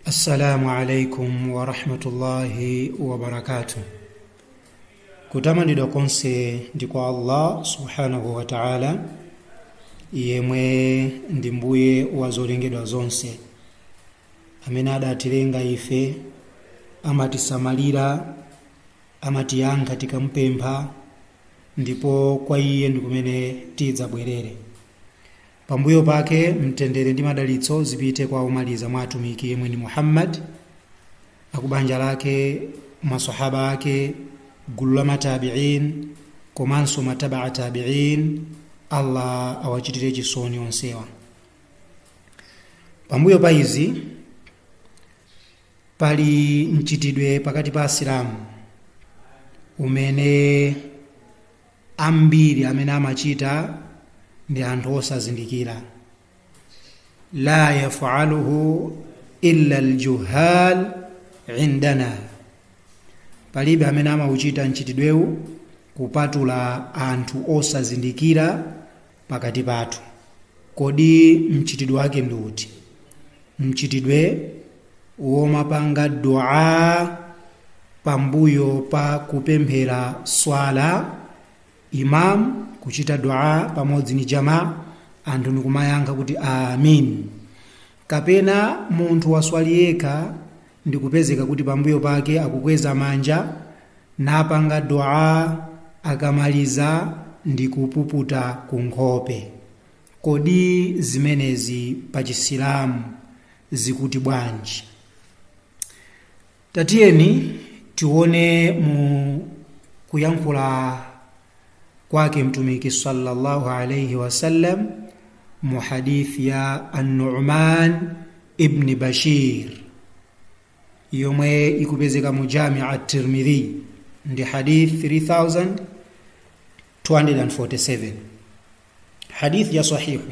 assalamu alaikum warahmatullahi wabarakatuh kutamandidwa konse ndi kwa allah subhanahu wa taala yemwe ndi mbuye wa zolengedwa zonse amene adatilenga ife amatisamalira amatiyankha tikampempha ndipo kwa iye ndi kumene tidzabwerere Pambuyo pake mtendere ndi madalitso zipite kwa omaliza mwa atumiki yemwe ni Muhammad, akubanja lake, masahaba ake, gulu la matabi'in komanso matabaa tabi'in, Allah awachitire chisoni onsewa. Pambuyo pa izi pali mchitidwe pakati pa Asilamu umene ambiri amene amachita ndi anthu osazindikira la yafaluhu illa aljuhal indana palibe amene amauchita mchitidwewu kupatula anthu osazindikira pakati pathu. Kodi mchitidwe wake ndi uti? Mchitidwe womapanga dua pambuyo pa kupemphera swala, imam kuchita dua pamodzi ni jamaa, anthu ndikumayankha kuti amin. Kapena munthu waswali yekha ndikupezeka kuti pambuyo pake akukweza manja napanga Duaa akamaliza ndikupuputa ku nkhope, kodi zimenezi pa Chisilamu zikuti bwanji? Tatiyeni tione mu kuyankhula kwake Mtumiki sallallahu alayhi wasallam mu hadith ya An-Nu'man ibn Bashir yomwe ikupezeka mu Jami' at-Tirmidhi ndi hadith 3247 hadith ya sahihu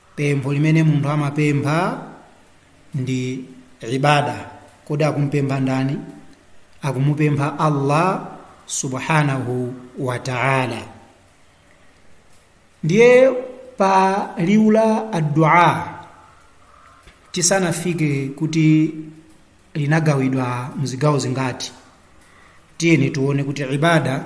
pempho limene munthu amapempha ndi ibada kodi akumpempha ndani akumupempha allah subhanahu wa taala ndiye pa liwu la addua tisanafike kuti linagawidwa mzigawo zingati tiyeni tione kuti ibada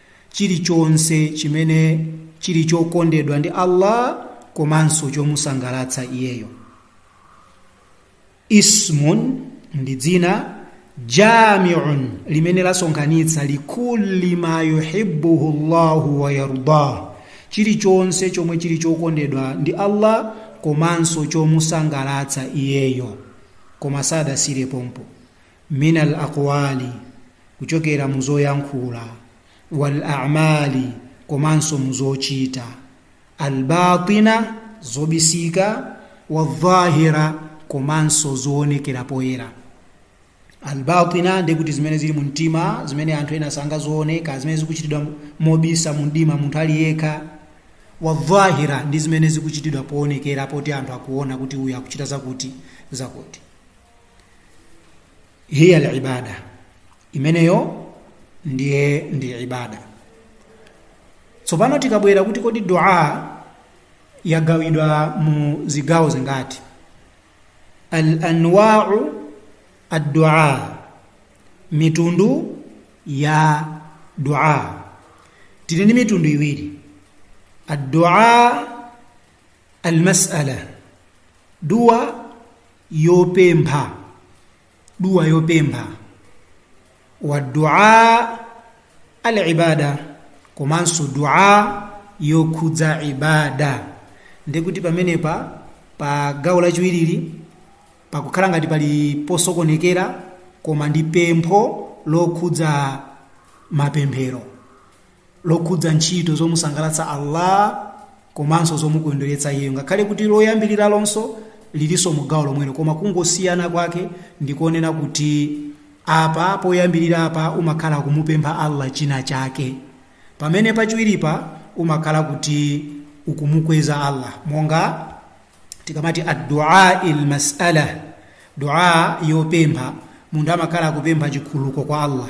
chilichonse chimene chili chokondedwa ndi Allah komanso chomusangalatsa iyeyo ismun ndi dzina jamiun limene lasonkhanitsa likulli ma yuhibbuhu llahu wa yardah chilichonse chomwe chili chokondedwa ndi allah komanso chomusangalatsa iyeyo koma sadasire pompo min al aqwali kuchokera mu zoyankhula wal a'mali komanso mu zochita al batina zobisika wa dhahira komanso zoonekera poyera al batina ndi kuti zimene zili mu mtima zimene anthu ena sangazione kaya zimene zikuchitidwa mobisa mu mdima munthu ali yekha wa dhahira ndi zimene zikuchitidwa poonekera poti anthu akuona kuti uyu akuchita zakuti zakuti hiya al ibada imeneyo ndiye ndi ibada tsopano tikabwera kuti kodi dua yagawidwa mu zigawo zingati al anwau addua mitundu ya dua tili ndi mitundu iwiri addua almasala dua yopempha dua yopempha wa dua al ibada komanso dua yokhudza ibada ndi kuti pamenepa pa gawo lachiwirili pakukhala ngati pali posokonekera koma ndi pempho lokhudza mapemphero lokhudza ntchito zomusangalatsa allah komanso zomukondweretsa iyeyo ngakhale kuti loyambiriralonso lilinso mu gawo lomwelo koma kungosiyana kwake ndikonena kuti apa poyambirirapa umakhala kumupempha allah china chake pamene pachiwiripa umakhala kuti ukumukweza allah monga tikamati addua ilmasala dua yopempha munthu amakhala akupempha chikhululuko kwa allah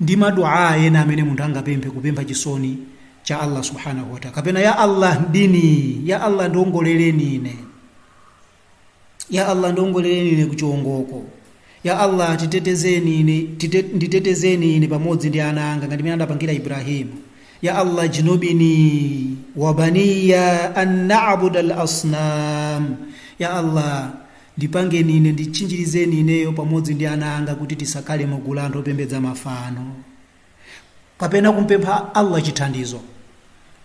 ndi ma duaa ena amene munthu angapemphe kupempha chisoni cha allah subhanahu wataala kapena ya allah ihdini ya allah ndiongoleleni ine ya allah ndiongoleleni ine kuchiongoko ya allah titetezeni ine tite, nditetezeni ine pamodzi ndi ana anga ngati mene adapangira ibrahimu ya allah jnubni wabaniya an nabuda lasnam ya allah Ndipangeni ine, nditchinjirizeni ineyo pamodzi ndi ana anga kuti tisakhale mu gulu la anthu opembedza mafano. Kapena kumpempha Allah chithandizo.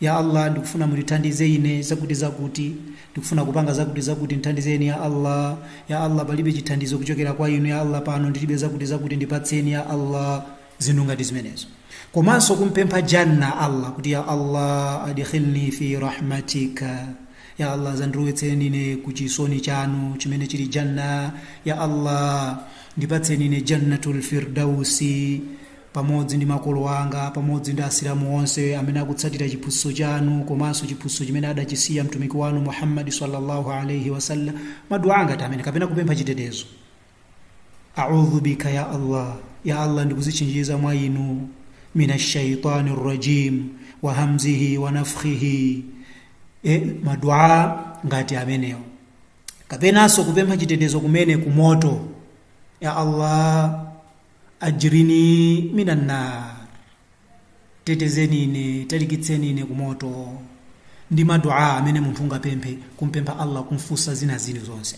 Ya Allah, ndikufuna mundithandize ine zakuti zakuti, ndikufuna kupanga zakuti zakuti ndithandizeni ya Allah. Ya Allah palibe chithandizo kuchokera kwa inu ya Allah pano ndilibe zakuti zakuti ndipatseni ya Allah. zinthu ngati zimenezo komanso kumpempha janna allah kuti ya allah adkhilni fi rahmatika ya allah zandirowetseni ine ku chisoni chanu chimene chili janna ya allah ndipatseni ine jannatul firdausi pamodzi ndi makolo anga pamodzi ndi asilamu onse amene akutsatira chiphunzitso chanu komanso chiphunzitso chimene adachisiya mtumiki wanu muhammad sallallahu alaihi wasallam maduwa ngati amene kapena kupempha chitetezo audhu bika ya allah ya allah ndikuzichinjiza mwa inu min ashaitani rajim wa hamzihi wa nafkhihi, madua ngati amenewo kapenanso kupempha chitetezo kumene ku moto ya allah ajirni minan nar tetezeni ine talikitseni ine ku moto ndi madua amene munthu ungapemphe kumpempha allah kumfunsa zina zili zonse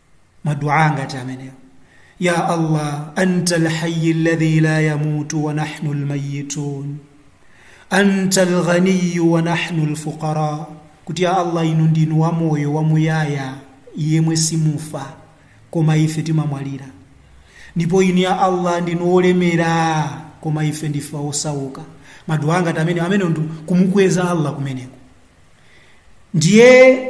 maduaa ngati amenewo ya allah anta lhayi ladhi la yamutu wa nahnu lmayitun anta lghaniyu wa nahnu lfuqara kuti ya allah inu ndinu wamoyo wamuyaya yemwe simufa koma ife timamwalira ndipo inu ya allah ndinu olemera koma ife ndife osauka maduwa ngati amenewo amenewo ndi kumukweza allah kumeneko ndiye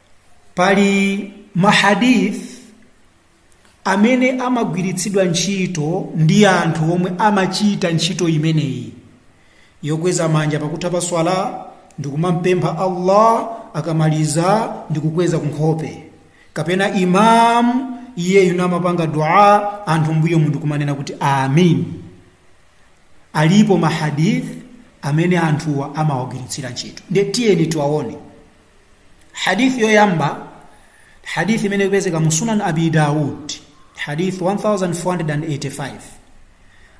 pali mahadith amene amagwiritsidwa ntchito ndi anthu omwe amachita ntchito imeneyi yokweza manja pakutha pa swala ndikumampempha allah akamaliza ndikukweza kunkhope kapena imam iyeyu n'kumapanga dua anthu mbuyomu ndi kumanena kuti amin alipo mahadith amene anthuwa amawagwiritsira ntchito ndiye tiyeni tiwaone hadith yoyamba hadith imene ikupezeka mu sunan abi daud hadith 1485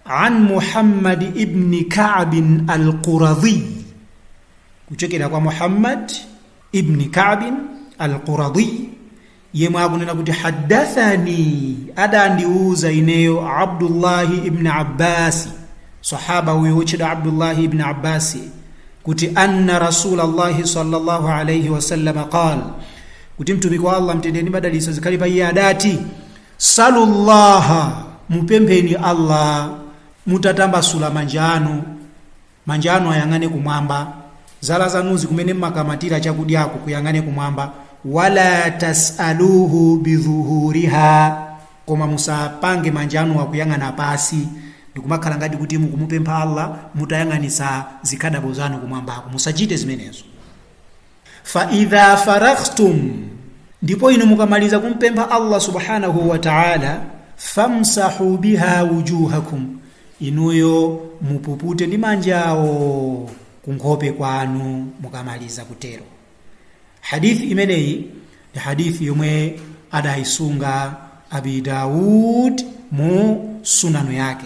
an muhammad ibni kabin alquradhi kuchokera kwa muhammad ibni kabin alquradhi yemwe akunena kuti haddathani adandiuza ineyo abdullahi ibni abbasi sahaba uyo wotchedwa abdullahi ibni abbasi kuti anna rasulallahi sallallahu alaihi wasallam qal kuti mtumiki wa allah mtendere ndi madalitso zikhale pa iye adati salullaha mupempheni allah mutatambasula manja anu Manja anu ayang'ane kumwamba. Zala zanuzi kumene mmakamatira chakudyako kuyang'ane kumwamba. Wala tas'alūhu bidhuhūriha. Koma musapange manja anuwa kuyang'ana pansi ndikumakhala ngati kuti mukumupempha Allah mutayang'anitsa zikhadabo zanu kumwambako. Musachite zimenezo. Fa idha faraghtum, ndipo inu mukamaliza kumpempha Allah subhanahu wa ta'ala, famsahu biha wujuhakum, inuyo mupupute ndi manjawo kunkhope kwanu mukamaliza kutero. Hadithi imeneyi ndi hadithi yomwe adayisunga Abi Dawud mu sunanu yake.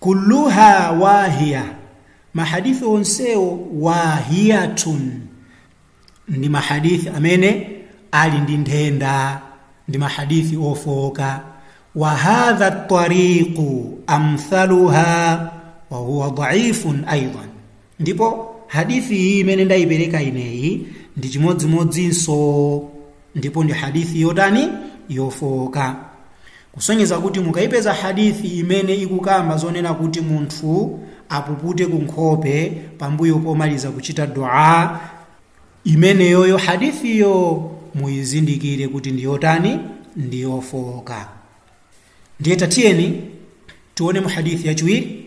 Kulluha wahiya, ma hadith onsewo wahiyatun, ndi ma hadith amene ali ndi nthenda, ndi ma hadith ofooka. Wa hadha tariqu amthaluha wa huwa dhaifun aidan, ndipo hadithi iyi imene ndayipereka ineyi ndi chimodzimodzinso ndipo ndi hadithi yotani yofowoka kusonyeza kuti mukayipeza hadithi imene ikukamba zonena kuti munthu apupute ku nkhope pambuyo pomaliza kuchita dua imeneyoyo hadithiyo muyizindikire kuti ndi yotani ndi yofooka ndiye tatiyeni tione mu hadithi yachiwiri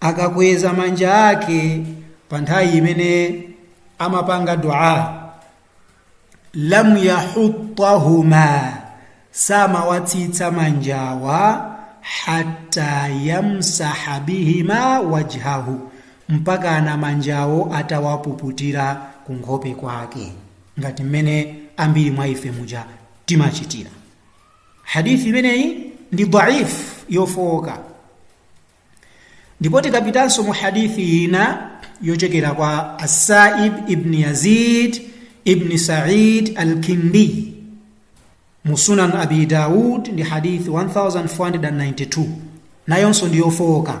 akakweza manja ake pa nthawi imene amapanga dua lam yahuttahuma samawatsitsa manjawa hatta yamsaha bihima wajhahu mpakana manjawo atawapuputira ku nkhope kwake ngati mmene ambiri mwa ife muja timachitira hadith imeneyi ndi dhaif yofowoka ndipo tikapitanso mu hadithi ina yochokera kwa asaib ibn yazid ibn said alkindi mu sunan abi daud ndi hadithi 1492 nayonso ndi yofowoka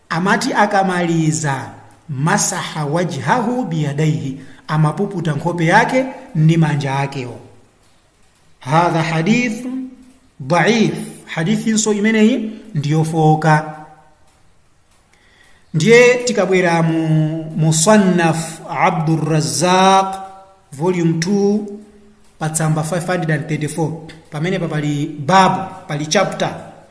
Amati akamaliza, Masaha wajhahu biyadaihi, amapuputa nkhope yake ndi manja akewo. Hadha hadithu daif, hadithinso imeneyi ndiyofowoka. Ndiye tikabwera mu Musannaf Abdurrazzaq volume 2 pa tsamba 534 pamenepa pali babu, pali chapter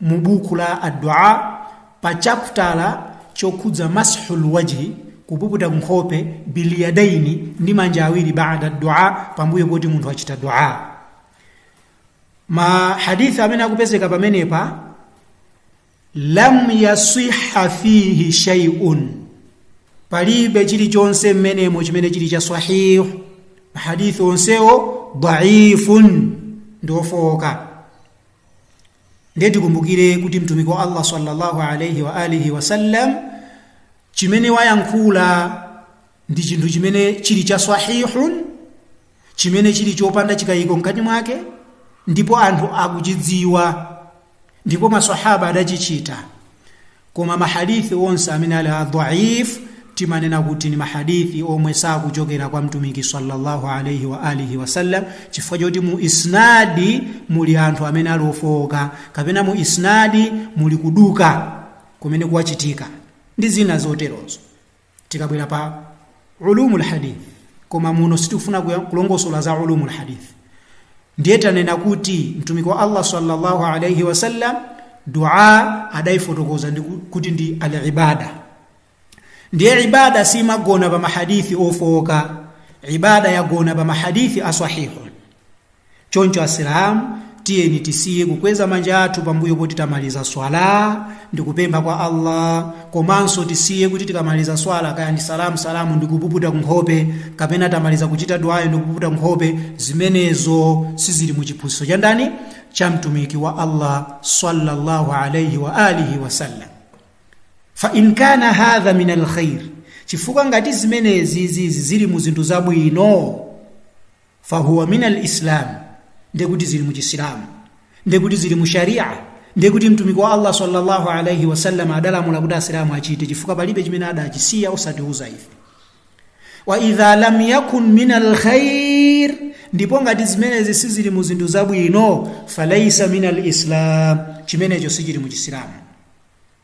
mu buku la addua pa chaputala chokhudza mashul wajhi kupuputa nkhope biliyadaini ndi manja awiri baada addua pambuyo poti munthu achita dua ma hadithi amene akupezeka pamenepa lam yasiha fihi shay'un palibe chilichonse mmenemo chimene chili cha sahih mahadithi onsewo dhaifun ndi ofowoka ndiye tikumbukire kuti mtumiki wa allah sallallahu alaihi wa alihi wasallam chimene wayankhula ndi chinthu chimene chili cha sahihun chimene chili chopanda chikayiko mkati mwake ndipo anthu akuchidziwa ndipo masahaba adachichita Koma ma Hadith onse amene ali a dhaif timanena kuti ni ma Hadith omwe sakuchokera kwa Mtumiki sallallahu alaihi wa alihi wasallam chifukwa choti mu isnadi muli anthu amene ali ofowoka kapena mu isnadi muli kuduka kumene kwachitika ndi zina zoterozo. tikabwera pa ulumul hadith koma muno sitikufuna kulongosola za ulumul hadith ndiye tanena kuti mtumiki wa allah sallallahu alaihi wasallam dua adaifotokoza ndi kuti ndi alibada ndiye ibada simagona pa mahadithi ofooka ibada yagona pa mahadithi asahihun choncho asilamu tiyeni tisiye kukweza manja athu pambuyo poti tamaliza swala ndi kupempha kwa allah komanso tisiye kuti tikamaliza swala kaya ndi salamu salamu ndi kupuputa nkhope kapena tamaliza kuchita duwayo ndi kupuputa nkhope zimenezo sizili mu chiphunzitso cha ndani cha mtumiki wa allah sallallahu alaihi wa alihi wasallam fa in kana hadha min alkhair chifukwa ngati zimenezi zizi zili mu zinthu zabwino fahuwa min alislam ndekuti zili muchisilamu ndekuti zili mu sharia ndekuti mtumiki wa allah sallallahu alaihi wasallam adalamula kuti asilamu achite chifukwa palibe chimene adachisiya osatiuza ife wa idha lam yakun min alkhair ndipo ngati zimenezi sizili mu zinthu zabwino falaisa min alislam chimenecho sichili mu chisilamu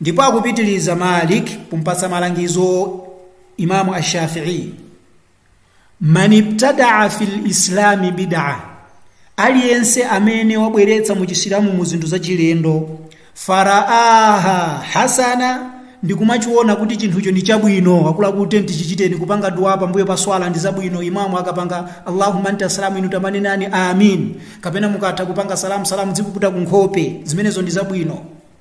ndipo akupitiliza malik kumpatsa malangizo imamu ashafii man ibtadaa fi lislami bidaa aliyense amene wabweretsa mu chisilamu mu zinthu zachilendo faraaha hasana ndikumachiona kuti chinthucho ndi chabwino akuti tichichiteni kupanga dua pambuyo pa swala ndi zabwino imamu akapanga allahumma anta salamu inu tamanenani amin kapena mukatha kupanga salamu salamu dzipuputa kunkhope zimenezo ndi zabwino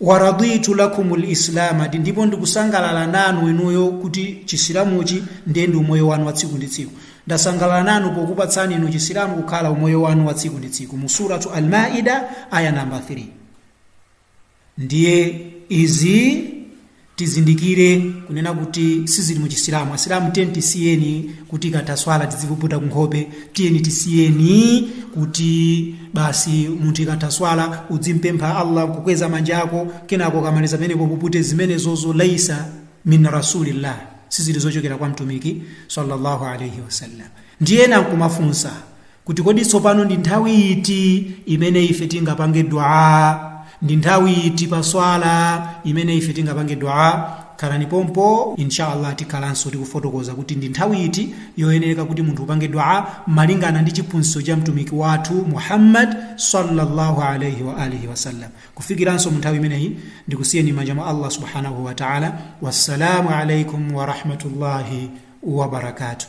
Waraditu lakumul Islama di ndipo ndikusangalala nanu inuyo kuti chisilamuchi ndiye ndi umoyo wanu wa tsiku ndi tsiku. Ndasangalala nanu pokupatsani inu chisilamu kukhala umoyo wanu wa tsiku ndi tsiku. Mu suratu Al-Maida aya namba 3. Ndiye izi tizindikire kunena kuti sizili mu chisilamu asilamu tiyeni tisiyeni kuti ikatha swala tidzipuputa kunkhope tiyeni tisiyeni kuti basi munthu ikatha swala udzimpempha allah nkukweza manja ako kenako ukamaliza pamenepo upupute zimenezozo laisa min rasulillah sizili zochokera kwa mtumiki sallallahu alaihi wasallam ndiye ena nkumafunsa kuti kodi tsopano ndi nthawi iti imene ife tingapange dua ndi nthawi iti pa swala imene ife tingapange dua khalani pompo inshallah tikhalanso tikufotokoza kuti ndi nthawi iti yoyenereka kuti munthu upange dua malingana ndi chiphunzitso cha mtumiki wathu muhammad sallallahu alaihi wa alihi wasallam kufikiranso mu nthawi imeneyi ndikusiyeni manja mwa allah subhanahu wa taala wassalamu alaikum warahmatullahi wabarakatuh